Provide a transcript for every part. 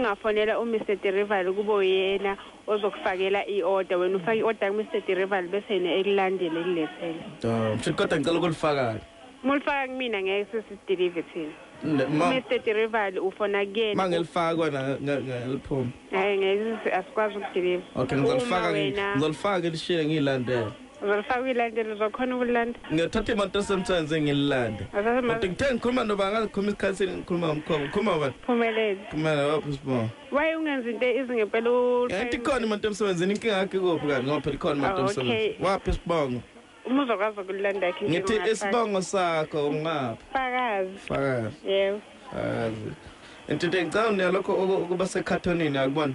Ungafonela uMr Derival kube uyena ozokufakela i-order wena ufake i-order kuMr Derival bese yena ekulandele ekulethele. Ah, mshuthi kodwa ngicela ukulifaka. Mulifaka kumina ngeke sesideliver thina. Ne- ma- Mr Derival ufona kuyena. Mangelifaka kona nge- ngeliphuma. Hayi ngeke asikwazi ukudeliver. Okay, ngizolifaka Uma ngi- wena- ngizolifaka ngilishiye ngilandele. uzolifaka uyilande lizokhona ukulilanda ngiyathatha imoto esemsebenzini ngililande kodwa ngithe ngikhuluma noba ngazikhuluma isikhathi ngikhuluma ngomkhongo ngikhuluma bani phumelele phumelele waphi sbo waye ungenza into izingempela yathi ikhona imoto emsebenzini inkinga yakhe kuphi kanti ngoba phela ikhona imoto ah, emsebenzini waphi sibongo uma uzokwazi ukulilanda yakhe ngithi isibongo sakho ungaphi fakazi fakazi yebo fakazi into ngicabanga nalokho ukuba sekhathonini akubona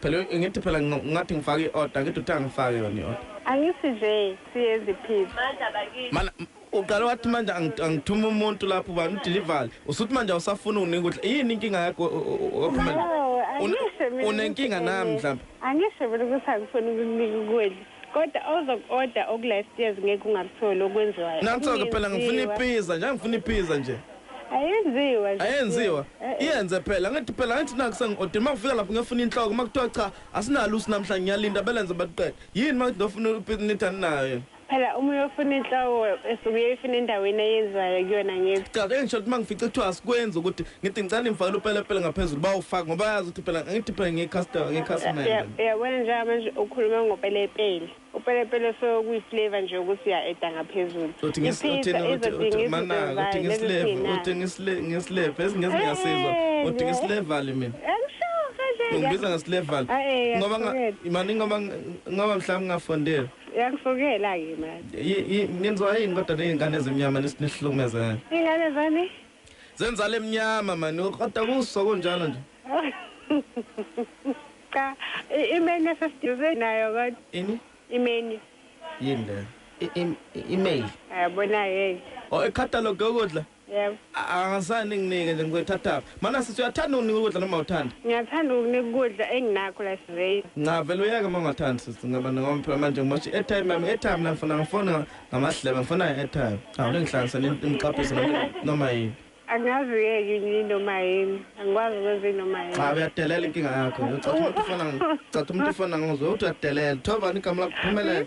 Phela ngithi phela ngathi ngifaka i-order ngithi uthi angifake yona i-order. Angisi nje siyeziphiphi. Mandla bakithi. Mana uqale wathi manje angithuma umuntu lapho ubani udelivery. Usuthi manje awusafuni unika ukudla. Yini inkinga yakho ophumela? Unenkinga nami mhlawumbe. Angisho mina ukuthi angifuni ukukunika ukudla. Kodwa ozok order oku live stairs ngeke ungakutholi okwenziwayo. Nansoke phela ngifuna ipizza nje angifuna ipizza nje. Ayenziwa nje. Ayenziwa. Iyenze phela ngithi phela ngithi naku sengi order makufika lapho ngefuna inhloko makuthiwa cha asinalo usi namhla ngiyalinda belenze baliqede. Yini makuthi ngifuna ipizza nithi aninayo yini. Phela uma uyofuna inhloko esuke uyifuna endaweni eyenziwayo kuyona ngithi. Cha ke ngisho ukuthi mangifica kuthiwa asikwenzi ukuthi ngithi ngicela ngifakele upelepele ngaphezulu bawufaka ngoba yazi ukuthi phela ngithi phela ngiyi-customer ngiyi-customer uyabona njenga manje ukhuluma ngopelepele upelepele sokuyiflavor nje ukuthi uya-eda ngaphezulu ngisleva esingezi ngiyasizwa uthi ngislevali mina ngibiza ngeslevali ngoba mani ngoba ngoba mhlawumbe ngingafondela uyangifokela-ke mani nenziwa yini kodwa ney'ngane ezimnyama nesihlukmezayo iy'ngane zani Zenzala emnyama man ukrota kuso kunjalo nje. Cha imeni esesiduze nayo kodwa. Ini? Imeni. Yini le? Email. Yabona hey. Oh e catalog yokudla? Yebo. Angasani nginike nje ngikuthatha. Mana sisi uyathanda unika ukudla noma uthanda? Ngiyathanda ukunika ukudla enginakho la siveyini. Cha vele uyeke uma ungathandi sisi ngaba noma phela manje ngimosha i-airtime yami i-airtime la ngifuna ngifona Ngamahlebe ngifuna i-airtime. Awu ningihlanganisa nimqaphise noma yini. Angazi uyeke yini noma yini. Angikwazi ukwenza inoma yini. Cha uyadelela inkinga yakho. Ucathi umuntu ufana ngicathi umuntu ufana ngizwe uthi uyadelela. Thoba igama lakho phumelela.